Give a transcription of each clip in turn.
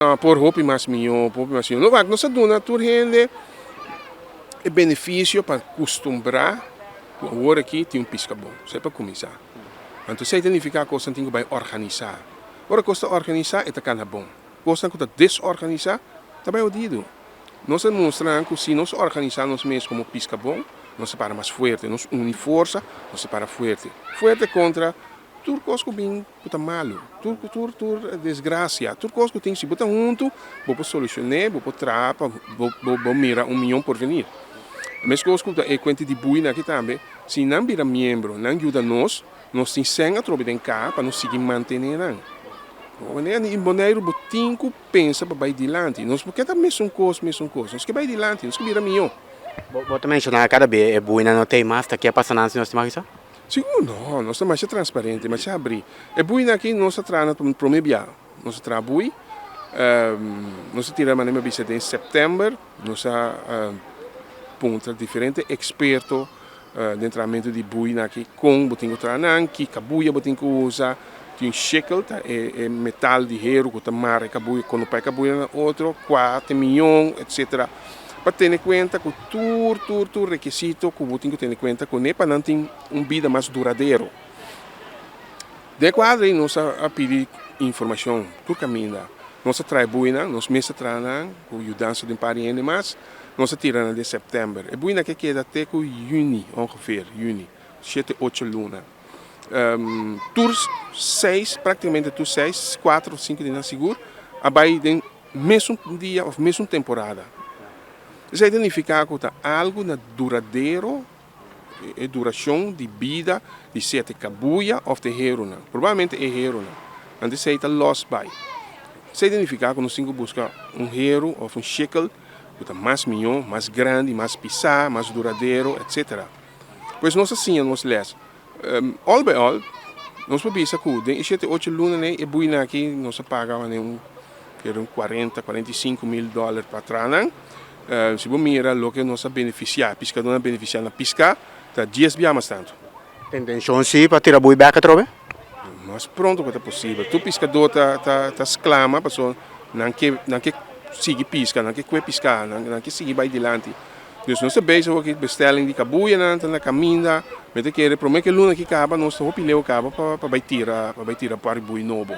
Por hopi mas mihó, por hopi mas mihó. Lo wak nos a duna tur hende e benefisio pa kustumbrá ku awor aki tin un piska bon. Esei pa kuminsá. Anto esei ta nifiká kosnan tin ku bai organisá. Ora kos ta organisá e ta kana bon. Kosnan ku ta desorganisá ta bai hodidu. Nos a mustra nan ku si nos organisá nos mes komo piska bon, nos ta para mas fuerte. Nos uni forsa, nos ta para fuerte. Fuerte kontra tur kos ku bin. ku ta malu, tur ku tur tur desgrasia, tur kos ku tin si bo ta huntu bo por solushoné, bo por traha pa bo mira un mion porvenir. E meskos ku ta e kuenti di buinan aki tambe, si nan bira miembro, nan yuda nos, nos tin sèn atrobe den ka pa nos sigui mantené nan. In Boneiru bo tin ku pensa pa bai dilanti, nos no ke ta mesun kos, mesun kos, nos ke bai dilanti, nos ke bira mihó. Bo ta menshoná kada bia e buinan no ta ei mas, ta ke pasa nan si nos tin mas kisa? Sigur no, nos ta masha transparente, masha abri. E buinan aki nos a traha na un prome bia, nos a traha bui, nos a tira mane'e mi a bisa den september nos a puntra diferente eksperto den trahamento di buinan aki kon bo tin ku traha nan, kika buia bo tin ku usa. tin shekel ta e metal di heru ku ta mara e kabuyo kono pa e kabuyo na otro kua te miyon etc. Pa tene kuenta ku tur tur tur rekisito ku bo tin ku tene kuenta kuné pa nan tin un bida mas duradero. Den e kuadro ei nos a pidi informashon tur kaminda. Nos a traha e buinan, nos mes a traha nan ku yudansa di un par di hende mas, nos a tira nan den sèptèmber. E buinan ke keda te ku yüni ongefeer, yüni, shete ocho luna. tur seis, practicamente tur seis, cuatro, cinco di nan sigur a bay den mesun dia of mesun temporada. Esey ta nifica cu ta algo na duradero, e duracion di bida di sete cabuya of te herunan, probablmente e herunan, anto esey ta los bay. Esey ta nifica cu nos tin cu busca un heru of un shekel cu ta mas miyo, mas grandi, mas pisa, mas duradero, etcetera. Pues nos a siña nos lès. All by all, nos por bisa ku den e shete ocho lunan ei e buinan aki nos a paga wanier un kere un kuarenta, kuarenta i sinku mil dòler pa tranan. Si bo mira loke nos a benefisiá, piskadónan a benefisiá na piská, ta dies bia mas tantu. Ta intenshon sí pa tira bui bèk atrobe? Lo mas pronto ku ta posibel. Tur piskadó ta sklama, pasobra nan ke sigui piska, nan ke kue piská, nan ke sigui bai dilanti. Dus nos ta bezig awor cu bestelling di cabuyanan ta na caminda, mi ta kere prome cu e luna aki caba nos ta hopi leeuw caba pa bay tira pa bay tira pari buey nobo,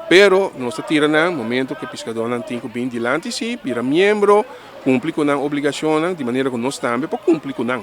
pero nos ta tira nan momento cu e piscadornan tin cu bin dilanti si, bira miembro, cumpli cu nan obligacionnan di manera cu nos tambe por cumpli cu nan.